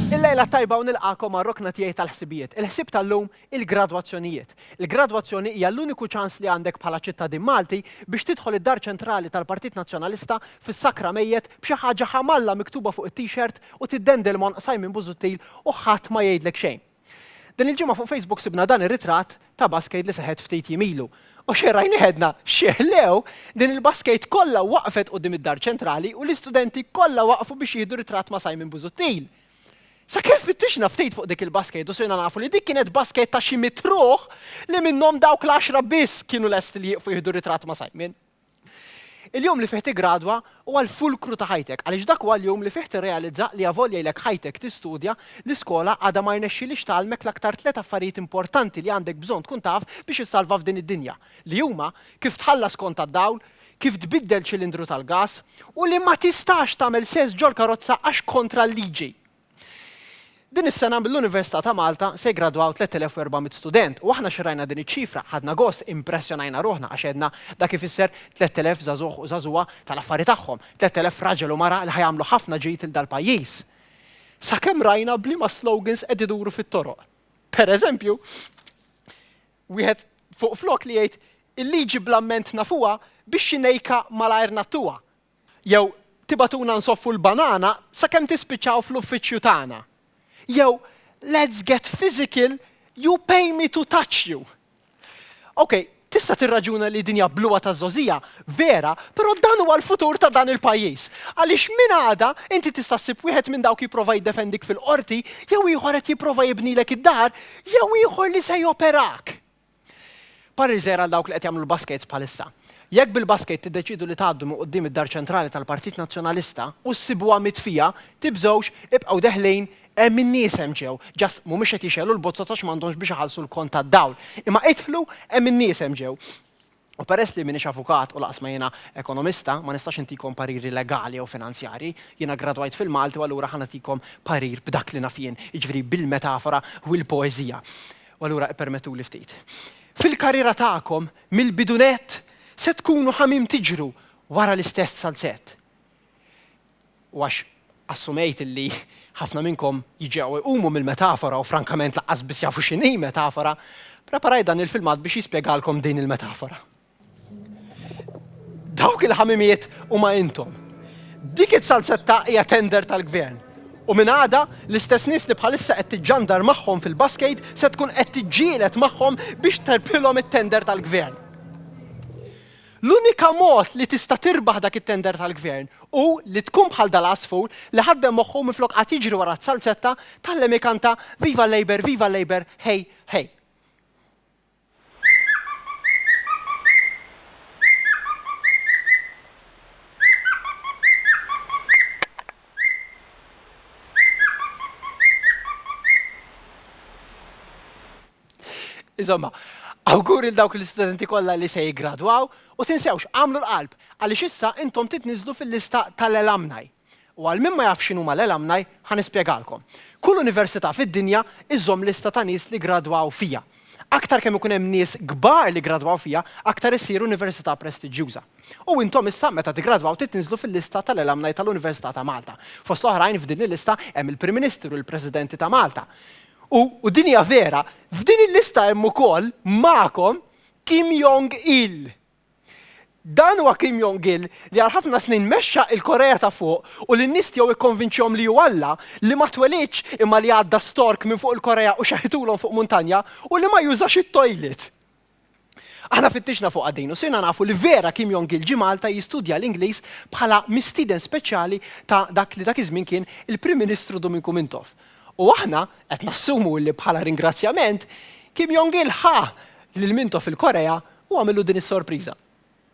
Il-lejla t-tajba u nilqagħkom għar-rokna tiegħi tal-ħsibijiet. Il-ħsieb tal-lum, il-gradwazzjonijiet. Il-gradwazzjoni hija l-uniku ċans li għandek bħala ċittadin Malti biex tidħol id-Dar Ċentrali tal-Partit Nazzjonalista fis-Sakra Mejjet b'xi ħaġa ħa m'Alla miktuba fuq it-t-shirt u tiddendel m'għonq Simon Busuttil u ħadd ma jgħidlek xejn. Din il-ġimgħa fuq Facebook sibna dan ir-ritratt ta' baskejt li seħet ftit jiem ilu. U xejn rajnih għedna, x'jeħlew, din il-baskejt kollha waqfet quddiem id-Dar Ċentrali u l-istudenti kollha waqfu biex jieħdu ritratt ma' Simon Busuttil. Sakemm fittixna ftit fuq dik il-baskejt u sirna nafu li dik kienet baskejt ta' xi mitt ruħ li minnhom dawk l-għaxra biss kienu lesti li jieqfu jieħdu ritratt ma' Simon. Il-jum li fih tiggradwa huwa l-fulkru ta' ħajtek għaliex dak huwa l-jum li fih tirrealizza li avolja ilek ħajtek tistudja, l-iskola għadha ma rnexxiliex tgħallmek l-aktar tliet affarijiet importanti li għandek bżonn tkun taf biex issalva f'din id-dinja, li huma, kif tħallas kont tad-dawl, kif tbiddel ċilindru tal-gas, u li ma tistax tagħmel sess ġol-karozza għax kontra l-liġi! Din is-sena mill-Università ta' Malta se jiggradwaw 3,400 student u aħna xirrajna din iċ-ċifra ħadna gost, impressjonajna ruħna għax għedna dak ifisser 3,000 żagħżugħ u żagħżugħa tal-affari tagħhom, 3,000 raġel u mara li ħa jagħmlu ħafna ġid lil dal-pajjiż. Sakemm rajna b'liema slogans qed iduru fit-toroq. Per eżempju, wieħed fuq flok li jgħid Il-liġi bl-amment nafuha, bix-xinejka malajr ngħattuha, Jew tibagħtuna nsoffu l-banana sakemm tispiċċaw fl-uffiċċju tagħna. Jew let's get physical, you pay me to touch you. Okej, tista' tirraġuna li din hija bluha ta' żgħożija, vera, però dan huwa l-futur ta' dan il-pajjiż. Għaliex minn għada inti tista' ssib wieħed minn dawk jipprova jiddefendik fil-Qorti, jew ieħor qed jipprova jibnilek id-dar, jew ieħor li se joperak. Pariser għal dawk li qed jagħmlu l-baskejts bħalissa. Jekk bil-baskejt tiddeċiedu li tgħaddu minn quddiem id-Dar Ċentrali tal-Partit Nazzjonalista u ssibuha mitfija, tibżgħux, ibqgħu deħlin, hemm in-nies hemm ġew, just mhumiex qed jixgħelu l-bozzot għax m'għandhomx biex iħallsu l-kont tad-dawl. Imma idħlu, hemm in-nies hemm ġew. U peress li m'iniex avukat u lanqas ma jiena ekonomista, ma nistax intikom pariri legali jew finanzjarji. Jiena ggradwajt fil-Malti u allura ħa nagħtikom parir b'dak li naf jien, jiġifieri bil-metafora u l-poeżija. U allura ippermettuli ftit. Fil-karriera tagħkom, mill-bidunett, se tkunu ħa mim tiġru wara l-istess salzett. U għax assumejt illi ħafna minnkom jiġew u jqumu mill-metafora u frankament lanqas biss jafu x'inhi metafora, preparajt dan il-filmat biex jispjegalkom din il-metafora. Dawk il-ħamimiet huma intom. Dik is-salsetta hija tender tal-Gvern. U minn għada, l-istess nies li bħalissa qed tiġġandar magħhom fil-baskejt se tkun qed tiġġieled magħhom biex terpilhom it-tender tal-Gvern. L-unika mod li tista' tirbaħ dak it-tender tal-Gvern hu li tkun bħal dal-għasfur li ħaddem moħħu u minflok qagħad jiġri wara s-salzetta, tgħallem ikanta Viva Labour, Viva Labour, Hey, Hey. Insomma, awgur il dawk l-istudenti kollha li se jiggradwaw u tinsewx, agħmlu l-qalb, għaliex issa intom titniżżlu fil-lista tal-alumni. U għal min ma jafx x'inhuma l-alumni, ħa nispjegalkom. Kull università fid-dinja iżżomm lista ta' nies li ggradwaw fiha. Aktar kemm ikun hemm nies kbar li ggradwaw fiha, aktar issir università prestiġjuża. U intom issa meta tiggradwaw titniżżlu fil-lista tal-alumni tal-Università ta' Malta. Fost l-oħrajn f'din il-lista hemm il-Prim Ministru, il-Presidenti ta' Malta. U, u din hija vera, f'din il-lista hemm ukoll magħkom Kim Jong Il. Dan huwa Kim Jong Il li għal ħafna snin mexxa il-Korea ta' Fuq u li n-nies tiegħu ikkonvinċihom li hu Alla, li ma twelidx imma li għadda stork minn fuq il-Korea u xeħitulhom fuq muntanja, u li ma jużax it-toilet. Aħna fittixna fuqha din u sirna nafu li vera Kim Jong-il ġie Malta jistudja l-Ingliż bħala mistieden speċjali ta' dak li dak iż-żmien kien il-Prim Ministru Duminku Mintoff. U aħna qed nassumu li bħala ringrazzjament, Kim Jong-il ħa lil Mintoff il-Korea u għamillu din is-sorpriża.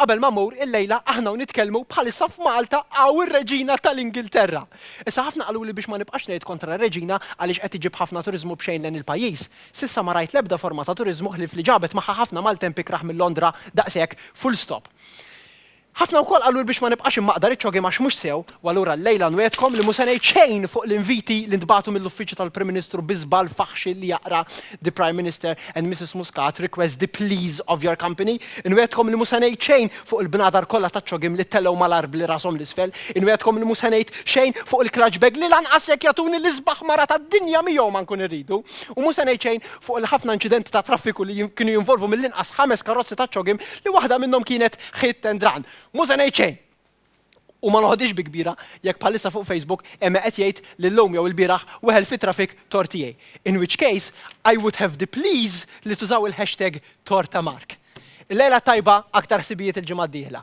Qabel ma mmur, illejla aħna u nitkellmu bħalissa f'Malta hawn ir-Reġina tal-Ingilterra. Issa ħafna qaluli biex ma nibqax ngħid kontra r-Reġina għaliex qed iġib ħafna turiżmu b'xejn lejn il-pajjiż. S'issa ma rajt l-ebda forma ta' turiżmu ħlief li ġabet magħha ħafna Maltemp ikrah minn Londra daqshekk full stop. Ħafna wkoll qaluli biex ma nibqax immaqdar iċ-ċogiem għax mhux sew u allura llejla nwegħedkom li mhu se ngħid xejn fuq l-inviti li ntbagħtu mill-Uffiċċju tal-Prim Ministru bi żball faħxi li jaqra The Prime Minister and Mrs Muscat request the please of your company. Inwegħedkom li mhu se ngħid xejn fuq il-bnadar kollha taċ-ċogiem li telgħu mal-għarb li rashom 'l isfel, inwegħedkom li mhu se ngħid xejn fuq il-clutch bag li lanqas jekk jagħtuni l-isbaħ mara tad-dinja miegħu ma nkun irridu, u mhu se ngħid xejn fuq il-ħafna inċidenti ta' traffiku li kienu jinvolvu mill-inqas ħames karozzi taċ-ċogiem li waħda minnhom kienet hit and run. Mhu se ngħid xejn! U ma noħodhiex bi kbira jekk bħalissa fuq Facebook hemm qed jgħid li llum jew ilbieraħ weħel fi traffic tort tiegħi. In which case, I would have the please li tużaw il-hashtag tort ta' Mark. Illejla t-tajba, aktar ħsibijiet il-ġimgħa d-dieħla.